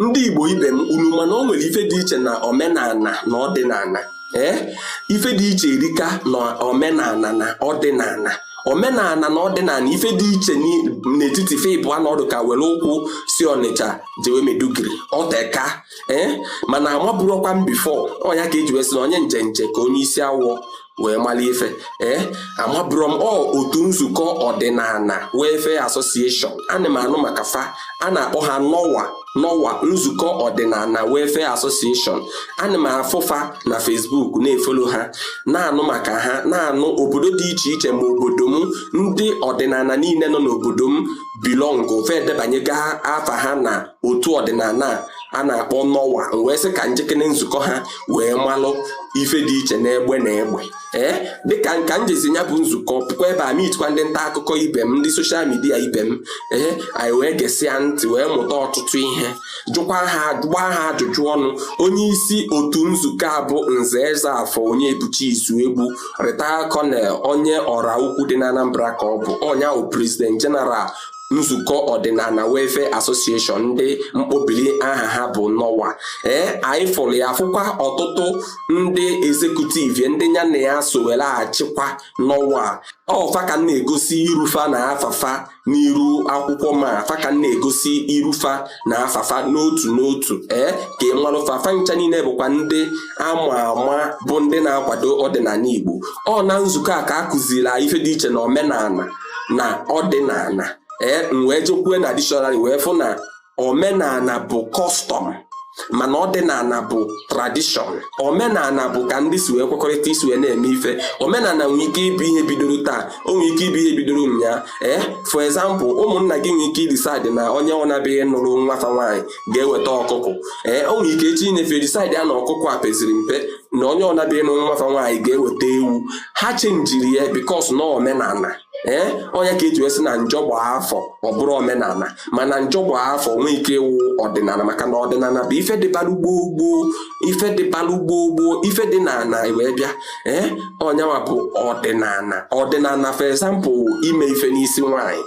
ndị Igbo ibe m unu ma na o nwere ife dị iche na omenala na ọdịnala ee eh? ife dị iche erika na omenala na ọdịnala omenala na ọdịnala ife dị iche n'etiti ife ịbụa na ọ dị ka were ụkwụ si Ọnịcha jewe Maiduguri o teka ee eh? mana amabụrọkwa m before ọ nya ka e ji wee sị na onye njenje ka onye isi awọ wee mara ife ee eh, amabụrọ m ọ otu nzukọ ọdịnala welfare association ana m anụ maka fa a na-akpọ ha NOWA NOWA nzukọ ọdịnala welfare association ana m afụ fa na Facebook na-efolo ha na-anụ maka ha na-anụ obodo dị iche iche ma obodo m ndị ọdịnala niile nọ n'obodo m belong fa edebanyega afa ha na otu ọdịnala a na-akpọ NOWA m wee sị ka m jekene nzukọ ha wee malụ ife dị iche n'egbe na egbe ee eh, dịka m jezi ya bụ nzukọ pụkwa ebe a meetkwa ndị nta akụkọ ibe m ndị social media ibe m ee eh, anyị wee gesịa ntị wee mụta ọtụtụ ihe jụkwa ha gbaa ha ajụjụ ọnụ onye isi otu nzukọ a bụ Nze Ezeafọ Onyebuchi Izuegbu retired colonel onye Ọraukwu dị na Anambra ka ọ bụ ọ nya bụ president general nzukọ ọdịnala welfare association ndị mkpọbili aha ha bụ NOWA ee anyị fụrụ ya fụkwa ọtụtụ ndị executive ndị ya na ya so were achịkwa NOWA ọ fa ka m na-egosi iru fa na afa fa n'iru akwụkwọ ma fa ka m na-egosi iru fa na afa fa n'otu n'otu ee ka ị marụ fa fa ncha niile bụkwa ndị ama ama bụ ndị na-akwado ọdịnala Igbo ọ na nzukọ a ka a kụziri ife dị iche na omenala na ọdịnala ee m wee jekwue na dictionary wee fụ na omenala bụ custom mana ọdịnala bụ tradition omenala bụ ka ndị si wee kwekọrịta isi wee na-eme ife omenala nwere ike ịbụ ihe bidoro taa o nwere ike ịbụ ihe bidoro ụnyaa ee for example ụmụnna gị nwere ike idecide na onye ọna bịa ịnụrụ nwa fa nwaanyị ga-eweta ọkụkụ ee o nwere ike echi nya fa decide ya na ọkụkụ a peziri mpe na onye ọna bịa ịnụ nwa fa nwaanyị ga-eweta ewu ha chenjiri ya because na omenala ee eh, ọ nya ka e ji wee sị na njọ gbaa afọ ọ bụrụ omenala mana njọ gbaa afọ nwee ike ịwụ ọdịnala maka na ọdịnala bụ ife dịbalụ gboo gboo ife dịbalụ gboo gboo ife dị n'ala wee bịa ee eh, ọ nya nwa bụ ọdịnala ọdịnala for example ime ife n'isi nwaanyị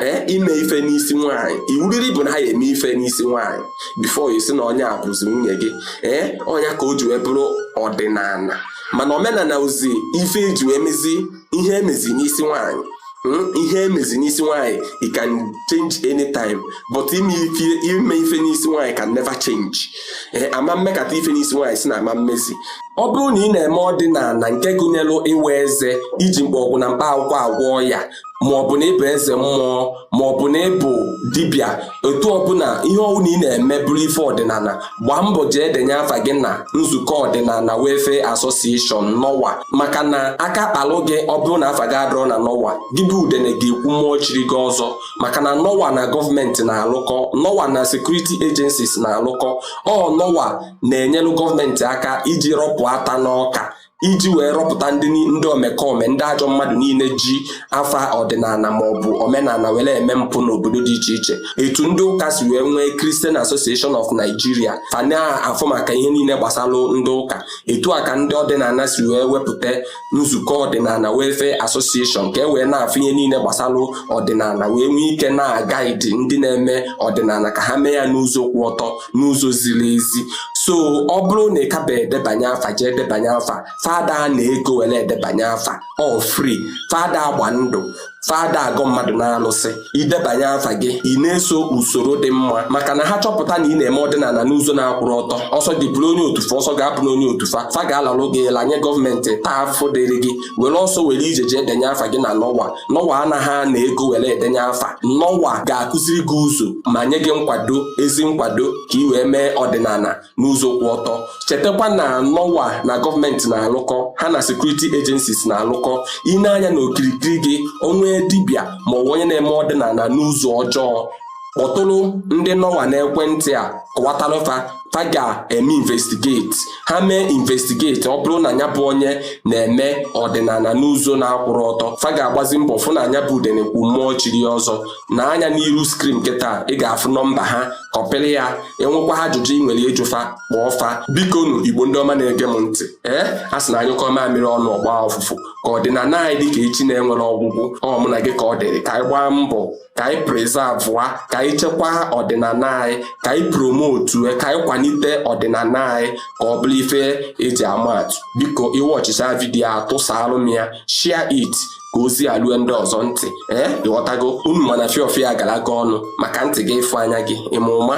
ee ime ife n'isi nwaanyị iwu dịrị bụ na a ya-eme ife n'isi nwaanyị before a sị na onye a bụzi nwunye gị ee ọ nya ka o ji wee bụrụ ọdịnala mana omenala bụzi ife e ji wee mezi ihe emezi n'isi nwaanyị hmm, ihe emezi n'isi nwaanyị it can change anytime but ime ife n'isi nwaanyị can never change ee a ma mekata ife n'isi nwaanyị sị na a ma emezi ọ bụrụ na ị na-eme ọdịnala nke gụnyere ịwa eze iji mgbọrọgwụ na mkpa akwụkwọ agwọ ya ma ọ bụ na ịbụ eze mmụọ ma ọ bụ na ịbụ dibịa etu ọbụla ihe ọbụla ị na-eme bụrụ ife ọdịnala gbaa mbọ jee denye afa gị na nzukọ ọdịnala Welfare Association nọwa maka na aka kpalụ gị ọ bụrụ na afa gị adịrọ na nọwa gị bụ udene ga-ekwu mmụọ chiri gị ọzọ maka na nọwa na gọọmenti na-alụkọ nọwa na security agencies na-alụkọ ọ nọwa na-enyelụ gọọmenti aka iji rọpụ ata n'ọka iji wee rọpụta ndị ndị omekome ndị ajọ mmadụ niile ji afa ọdịnala ma ọ bụ omenala were eme mpụ n'obodo dị iche iche etu ndị ụka si wee nwee Christian Association of Nigeria fa na-afụ maka ihe niile gbasara ndị ụka etu a ka ndị ọdịnala si wee wepụta nzukọ ọdịnala Welfare Association ka e wee na-afụ ihe niile gbasara ọdịnala wee nwee ike na-agaidi ndị na-eme ọdịnala ka ha mee ya n'ụzọ kwụ ọtọ n'ụzọ ziri ezi so ọ bụrụ na ị kaba edebanye afa jee edebanye afa fa ada ana ego were edebanye afa ọ free fa ada agba ndụ fa ada agọ mmadụ n'alụsị idebanye afa gị ị na-eso usoro dị mma maka na ha chọpụta na ị na-eme ọdịnala n'ụzọ na-akwụrọ ọtọ ọ sọ gị bụrụ onye otu fa ọ sọ gị abụna onye otu fa fa ga-alalụ gị lanye gọọmenti taa afụfụ dịrị gị were ọsọ were ije jee denye afa gị na nọwa nọwa anaghị ana ego were edenye afa nọwa ga-akụziri gị ụzọ ma nye gị nkwado ezi nkwado ka ị wee mee ọdịnala n'ụzọ kwụ ọtọ chetakwa na nọwa na gọọmenti na-alụkọ ha na security agencies na-alụkọ i nee anya na okirikiri gị o nwee dibịa ma ọ bụ onye na-eme ọdịnala n'ụzọ ọjọọ kpọtụrụ ndị nọwa n'ekwentị a kọwatara fa fa ga-eme investigate ha mee investigate ọ bụrụ na ya bụ onye na-eme ọdịnala n'ụzọ na-akwụrọ ọtọ fa ga-agbazi mbọ fụ na nya bụ udene kwu mmụọ chiri ọzọ nee anya n'iru screen kịta ị ga-afụ nọmba ha kọpịrị ya e nwekwaa ajụjụ ị nwere ịjụ fa kpọọ fa bikonu igbo ndị ọma na-ege m ntị ee a sị na a nyụkọọ mamịrị ọnụ ọ gbaa ọfụfụ ka ọdịnala anyị dị ka echi na-enwerọ ọgwụgwụ ọ mụ na gị ka ọ dịrị ka anyị gbaa mbọ ka anyị prezavụa ka anyị chekwaa ọdịnala anyị ka anyị promotu ka anyị kwalite ọdịnala anyị ka ọ bụrụ ife eji ama atụ biko ị wọchịchaa vidiyo a tụsalụ m ya share it ka ozi a lue ndị ọzọ ntị ee ịghọtago unu ma na fiọfịa gara aga ọnụ maka ntị gị ịfụ anya gị ịma ụma